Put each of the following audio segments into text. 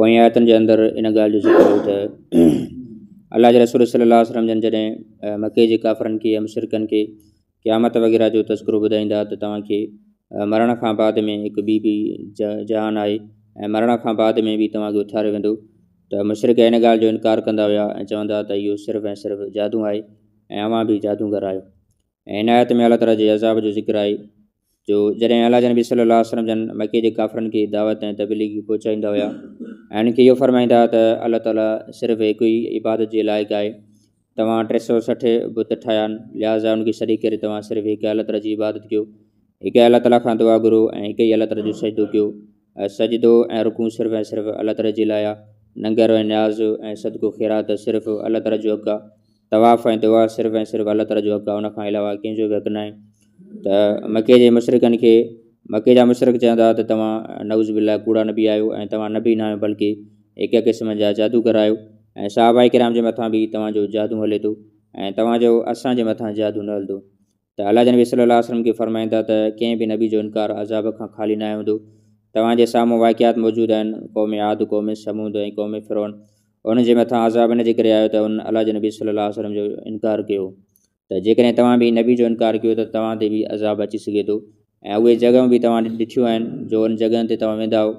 پوئين آيتن جي اندر ان ڳالهه جو ذڪر هو ته الله جي رسول صلي الله وسلم جن جڏهن مڪي جي ڪافرن کي يا مشرڪن کي قيامت وغيره جو تذڪرو ٻڌائيندا ته توهان کي مرڻ کان بعد ۾ هڪ ٻي بي جهان آهي ۽ مرڻ کان بعد ۾ به توهان کي اٿاريو ويندو ته مشرق هن ڳالهه جو انڪار ڪندا هيا ۽ چوندا ته اهو صرف ۽ صرف جادو آهي ۽ اوهان به جادوگر آهيو ۽ عنايت ۾ الله تعالا جي عذاب جو ذڪر آهي جو جڏهن الله جي نبي صلي الله عليه وسلم جن مڪي جي ڪافرن کي دعوت ۽ تبليغي پهچائيندا هيا ۽ هنن کي اهو فرمائيندا هئا ته الله تعاليٰ صرف هڪ ئي عبادت جي لائق آهي توهان ٽي سؤ سٺ بت ٺاهيا آهن لهٰذا ان کي شريڪ ڪري توهان صرف هڪ الله تعاليٰ جي عبادت ڪيو هڪ الله تعاليٰ کان دعا گهرو ۽ هڪ ئي الله تعاليٰ جو سجدو ڪيو ۽ سجدو ۽ رڪوع صرف ۽ صرف الله تعالي جي لاء آ، ننگر ۽ نياز ۽ صدقو خيرات صرف الله تعالي جو حق آ، طواف ۽ دعا صرف ۽ صرف الله تعالي جو حق آ ان کان علاوه ڪنهن جو به حق ناهي ته مڪي جي مشرڪن کي مڪي جا مشرڪ چوندا ته توهان نعوذ بالله ڪوڙا نبي آهيو ۽ توهان نبي ناهيو بلڪه هڪ قسم جا جادوگر آهيو ۽ صحابه ڪرام جي مٿان به توهان جو جادو هلي ٿو ۽ توهان جو اسان جي مٿان جادو نه هلندو ته اعليٰ جي نبي صلّي اللّٰه عليه وسلّم ڪي فرمائن ٿا ته ڪنهن به نبي جو انڪار عذاب کان خالي ناهي هوندو. توهان جي سامهون واقعات موجود آهن، قوم عاد، قوم ثمود ۽ قوم فرعون. انهن جي مٿان عذاب ان جي ڪري آيو ته انهن اعليٰ جي نبي صلّي اللّٰه عليه وسلّم جو انڪار ڪيو. ته جيڪڏهن توهان به نبي جو انڪار ڪيو ته توهان تي به عذاب اچي سگهي ٿو ۽ اهي جڳهيون به توهان ڏٺيون آهن جو انهن جڳهين تي توهان ويندا آهيو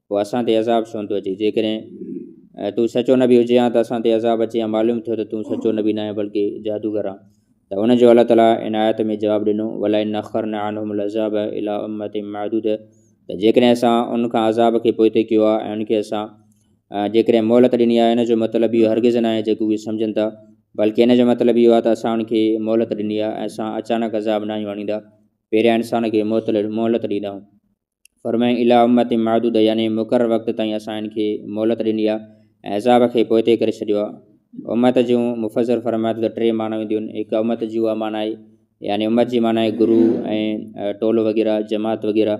پوء اسان تي عذاب ڇونه ٿو اچي جيڪڏهن تون سچو نبي هجي هان ته اسان تي عذاب اچي هان معلوم ٿيو ته تون سچو نبي ناهي بلڪه جادوگر آن ته ان جو الله تعالیٰ ان آيت ۾ جواب ڏنو ولا ان اخر نه آنهم العذاب الا امت محدود ته جيڪڏهن اسان ان کان عذاب کي پوئتي ڪيو آهي ۽ ان کي اسان جيڪڏهن مهلت ڏني آهي ان جو مطلب اهو هرگز نه آهي جيڪو اهي سمجھن ٿا بلڪه ان جو مطلب اهو آهي ته اسان ان کي مهلت ڏني آهي ۽ اسان اچانڪ عذاب نه آهيون آڻيندا پهريان انسان کي مهلت ڏيندا آهيون فرمايائين اليٰ امة معدودة يعني مقرر وقت تائين اسان هن کي مهلت ڏني آهي ۽ عذاب کي پوئتي ڪري ڇڏيو آهي. امة جون مفسر فرمائن ٿو ته ٽي معنيٰ هونديون آهن، هڪ امة جي اها معنيٰ آهي، يعني امت جي معنيٰ آهي گرو ۽ ٽولو وغيره، جماعت وغيره،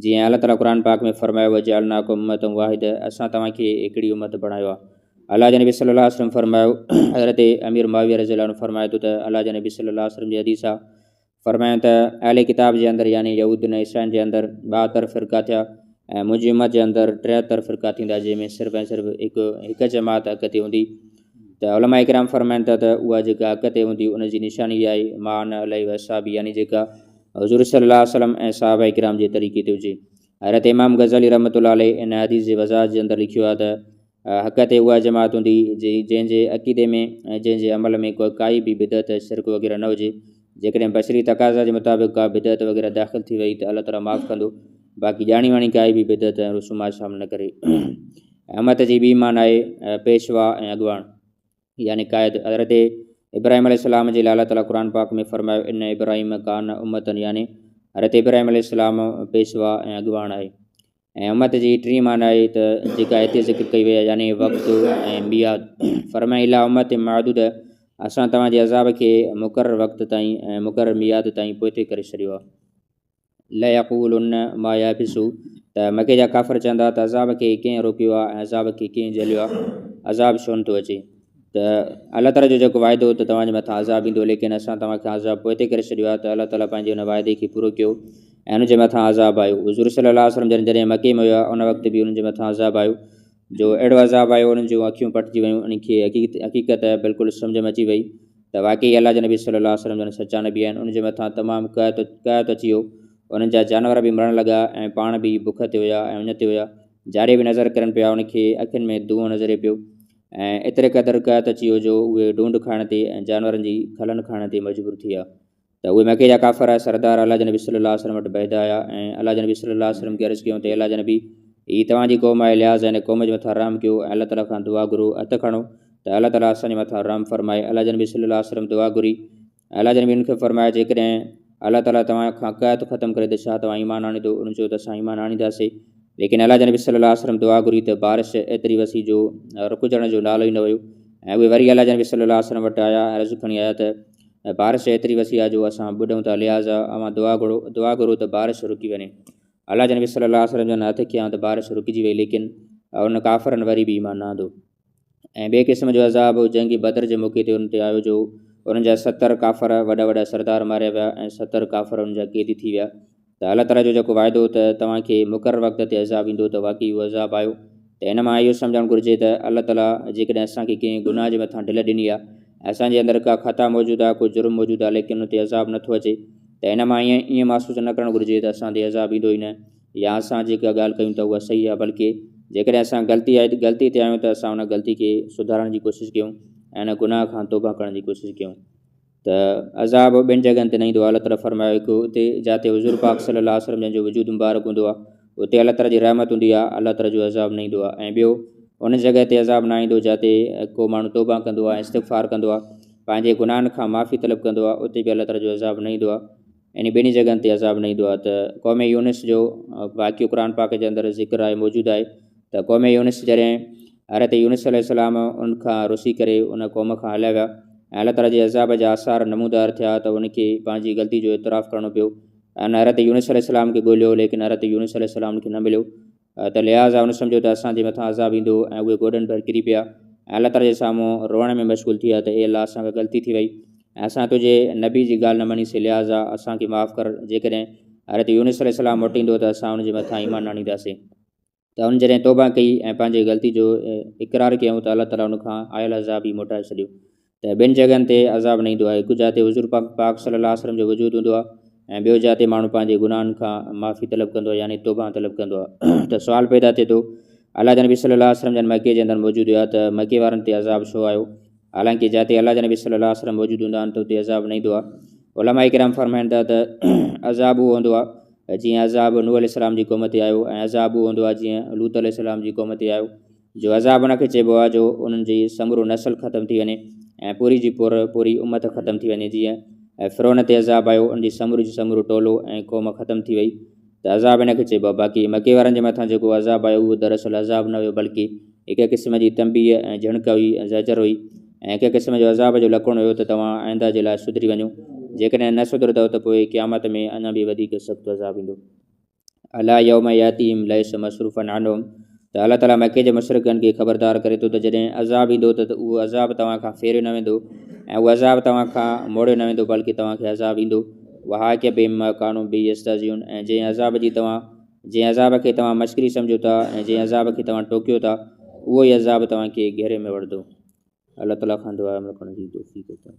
جي ۽ الله تعاليٰ قرآن پاڪ ۾ فرمايو وجعلناڪم امة واحدة اسان توهان کي هڪڙي امت بڻايو آهي. الله جي نبي صلي الله عليه وسلم فرمايو، حضرت امير معاويه رضي الله عنه فرمائي ٿو ته الله جي نبي صلي الله عليه وسلم جي حديث آهي، فرمايائون ته اهل ڪتاب جي اندر يعني يهود ۽ عيسائين جي اندر ٻاهتر فرقا ٿيا ۽ منهنجي امت جي اندر ٽيهتر فرقا ٿيندا جنهن ۾ صرف ۽ صرف هڪ هڪ جماعت حق تي هوندي ته علماء اڪرام فرمائن ٿا ته اها جيڪا حق تي هوندي ان جي نشاني اها آهي مان علي وصابي يعني جيڪا حضور صلي الله وسلم ۽ صحابه اڪرام جي طريقي تي هجي حضرت امام غزالي رحمت الله عليه ان حديث جي وضاحت جي اندر لکيو آهي ته حق تي اها جماعت هوندي جنهن جي عقيدي ۾ ۽ جنهن جي عمل ۾ ڪائي به بدعت، شرڪ وغيره نه هجي. جيڪڏهن بشري تقاضا جي مطابق ڪا بدعت وغيره داخل ٿي وئي ته الله تعاليٰ معاف ڪندو، باقي ڄاڻي واڻي ڪائي به بدعت ۽ رسومات شامل نه ڪري. امت جي ٻي ايمان آهي پيشوا ۽ اڳواڻ. يعني قائد حضرت ابراهيم عليه السلام جي لاء الله تعالي قرآن پاڪ ۾ فرمايو ان ابراهيم ڪان امتن يعني حضرت ابراهيم عليه السلام پيشوا ۽ اڳواڻ آهي ۽ امت جي ٽين معنيٰ آهي ته جيڪا هتي ذڪر ڪئي وئي يعني وقت ۽ مياد فرمائي الا امت معدود اسان توهان جي عذاب کي مقرر وقت تائين ۽ مقرر مياد تائين پوئتي ڪري ڇڏيو آهي ليقولن ما يحبس ته مڪي جا ڪافر چوندا ته عذاب کي ڪنهن روڪيو آهي ۽ عذاب کي ڪنهن جهليو آهي عذاب ڇو نٿو اچي ته الله تعالیٰ جو جيڪو واعدو هو ته توهانجي مٿان عذاب ايندو ليڪن اسان توهان کي عذاب پوء تي ڪري ڇڏيو آهي ته الله تعالیٰ پنهنجي ان واعدي کي پورو ڪيو ۽ ان جي مٿان عذاب آيو حضور صلي الله وسلم جن جڏهن مڪي ۾ هيا ان وقت به انهن جي مٿان عذاب آيو جو اهڙو عذاب آيو انهن جون اکيون پٽجي ويون انهن کي حقيقت بلڪل سمجهه ۾ اچي وئي ته واقعي الله جي نبي صلي الله عليه وسلم جن سچا نبي آهن انهن جي مٿان تمام قحط قحط اچي ويو انهن جا جانور به مرڻ لڳا ۽ پاڻ به بک تي هيا ۽ ان تي هيا جاري به نظر ڪرن پيا انهن کي اکين ۾ دونهون نظري پيو ۽ ايتري قدر قحط اچي ويو جو اهي ڊونڊ کائڻ تي ۽ جانورن جي کلن کائڻ تي مجبور ٿي ويا ته اهي مڪي جا ڪافر سردار الله جي نبي صلي الله عليه وسلم وٽ بيد آيا ۽ الله جي نبي صلي الله عليه وسلم کي عرض ڪيون ته الله جي نبي هي توهان جي قوم آهي لحاظ هن قوم جي مٿان رحم ڪيو ۽ الله تعاليٰ کان دعا گهرو هٿ کڻو ته الله تعاليٰ اسان جي مٿان رحم فرمائي الله جي نبي صلي الله عليه وسلم دعا گهري الله جي نبي ان کي فرمايو جيڪڏهن الله تعاليٰ توهان کان قحط ختم ڪري ته ڇا توهان ايمان آڻيندو ان چيو ته اسان ايمان آڻينداسي ليڪن الله جي نبي صلي الله عليه وسلم دعا گهري ته بارش ايتري وسي جو رڪجڻ جو نالو ئي نه ويو ۽ اهي وري الله جي نبي صلي الله عليه وسلم وٽ آيا عرض کڻي آيا ته ۽ بارش ايتري وسي آ جو اسان ٻڏون ٿا لهٰذا اوهان دعا گهرو دعا گهرو ته بارش رڪي وڃي الله جي نبي صلي الله عليه وسلم جن هٿ ڪيائون ته بارش رڪجي وئي ليڪن انهن ڪافرن وري به ايمان نه آندو ۽ ٻئي قسم جو عذاب جنگ بدر جي موقعي تي انهن تي آيو جو انهن جا ستر ڪافر وڏا وڏا سردار ماريا ويا ۽ ستر ڪافر انهن جا قيدي ٿي ويا ته الله تعاليٰ جو جيڪو وعدو هو ته توهان کي مقرر وقت تي عذاب ايندو ته واقعي اهو عذاب آيو ته ان مان اهو سمجهڻ گهرجي ته الله تعاليٰ جيڪڏهن اسان کي ڪنهن گناهه جي مٿان ڍل ڏني آهي اسان جي اندر ڪا خطا موجود آهي ڪو جرم موجود آهي ليڪن ان تي عذاب نٿو اچي ته ان مان ائين ائين محسوس نه ڪرڻ گهرجي ته اسان تي عذاب ايندو ئي نه يا اسان جيڪا ڳالهه ڪيون ٿا اها صحيح آهي بلڪه جيڪڏهن اسان غلطي آهي غلطي تي آهيون ته اسان ان غلطي کي سڌارڻ جي ڪوشش ڪيون ۽ ان گناهه کان توبه ڪرڻ جي ڪوشش ڪيون ته عذاب ٻين جڳهن تي نه ايندو آهي، الله تعاليٰ فرمايو هڪ اتي جاتي حضور پاڪ صلي الله عليه وسلم جن جو وجود مبارڪ هوندو آهي اتي الله تعاليٰ جي رحمت هوندي آهي الله تعاليٰ جو عذاب نه ايندو آهي ۽ ٻيو ان جڳهه تي عذاب نه ايندو جاتي ڪو ماڻهو توبه ڪندو آهي استغفار ڪندو آهي پنهنجي گناهن کان معافي طلب ڪندو آهي اتي به الله تعاليٰ جو عذاب نه ايندو آهي انهي ٻنهي جڳهن تي عذاب نه ايندو آهي ته قوم يونس جو واقعو قرآن پاڪ جي اندر ذڪر آهي موجود آهي ته قوم يونس جڏهن حضرت يونس عليه السلام ان کان رسي ڪري ان قوم کان هليا ويا ۽ الله تعاليٰ جي عذاب جا آثار نمودار ٿيا ته ان کي پنهنجي غلطي جو اعتراف ڪرڻو پيو ان حضرت يونس عليه السلام کي ڳوليو ليڪن حضرت يونس عليه السلام ان کي نه مليو ته لحاظا هن سمجهيو ته اسان جي مٿان عذاب ايندو ۽ اهي گوڏن ڀر ڪري پيا ۽ الله تعاليٰ جي سامهون روئڻ ۾ مشغول ٿي ويا ته اي الله اسان کان غلطي ٿي وئي ۽ اسان تنهنجي نبي جي ڳالهه نه مڃيسين لحاظا اسان کي معاف ڪر جيڪڏهن حضرت يونس عليه السلام موٽيندو ته اسان ان جي مٿان ايمان نه آڻينداسين ته ان جڏهن توبه ڪئي ۽ پنهنجي غلطي جو اقرار ڪيائون ته الله تعاليٰ ان کان آيل عذاب ئي موٽائي ڇڏيو ته ٻين جڳهن تي عذاب نه ايندو آهي، هڪ جاء تي حضور پاڪ پاڪ صلّي الله عليه وسلّم جو وجود هوندو آهي ۽ ٻيو جاء تي ماڻهو پنهنجي گناهن کان معافي طلب ڪندو آهي يعني توبه طلب ڪندو آهي ته سوال پيدا ٿئي ٿو الله جا نبي صلّي الله عليه وسلّم جن مڪي جي اندر موجود هيا ته مڪي وارن تي عذاب ڇو آيو حالانڪه جاء تي الله جا نبي صلّي الله عليه وسلّم موجود هوندا آهن ته اتي عذاب نه ايندو آهي علماء ڪرام فرمائن ٿا ته عذاب اهو هوندو آهي جيئن عذاب نوح عليه السلام جي قوم تي آيو ۽ عذاب اهو هوندو آهي جيئن لوط عليه السلام جي قوم تي آيو جو عذاب ان کي چئبو آهي جو انهن جي سمورو نسل ختم ٿي وڃي ۽ پوري جي پور پوري امت ختم ٿي وڃي جيئن فرعون تي عذاب آيو ان جي سموري جي سمورو ٽولو ۽ قوم ختم ٿي وئي ته عذاب ان کي چئبو آهي باقي مڪي وارن جي مٿان جيڪو عذاب آيو اهو دراصل عذاب نه هيو بلڪه هڪ قسم جي تنبيه ۽ جهڻڪ هئي ۽ زجر هئي ۽ هڪ قسم جو عذاب جو لڪڻ هيو ته توهان آئنده جي لاء سڌري وڃو جيڪڏهن نه سڌرندؤ ته پوء قيامت ۾ اڃا به وڌيڪ سخت عذاب ايندو الا يوم ياتيهم ليس مصروفا عنهم ته الله تعاليٰ مڪي جي مشرقن کي خبردار ڪري ٿو ته جڏهن عذاب ايندو ته اهو عذاب توهان کان ڦيريو نه ويندو ۽ اهو عذاب توهان کان موڙيو نه ويندو بلڪه توهان کي عذاب ايندو وها ڪي بي مڪانو بي يستازيون ۽ جنهن عذاب جي توهان جنهن عذاب کي توهان مشڪري سمجھو ٿا ۽ جنهن عذاب کي توهان ٽوڪيو ٿا اهو ئي عذاب توهان کي گھيري ۾ وڙھندو الله تعاليٰ کان دعا عمل ڪرڻ جي توفيق عطا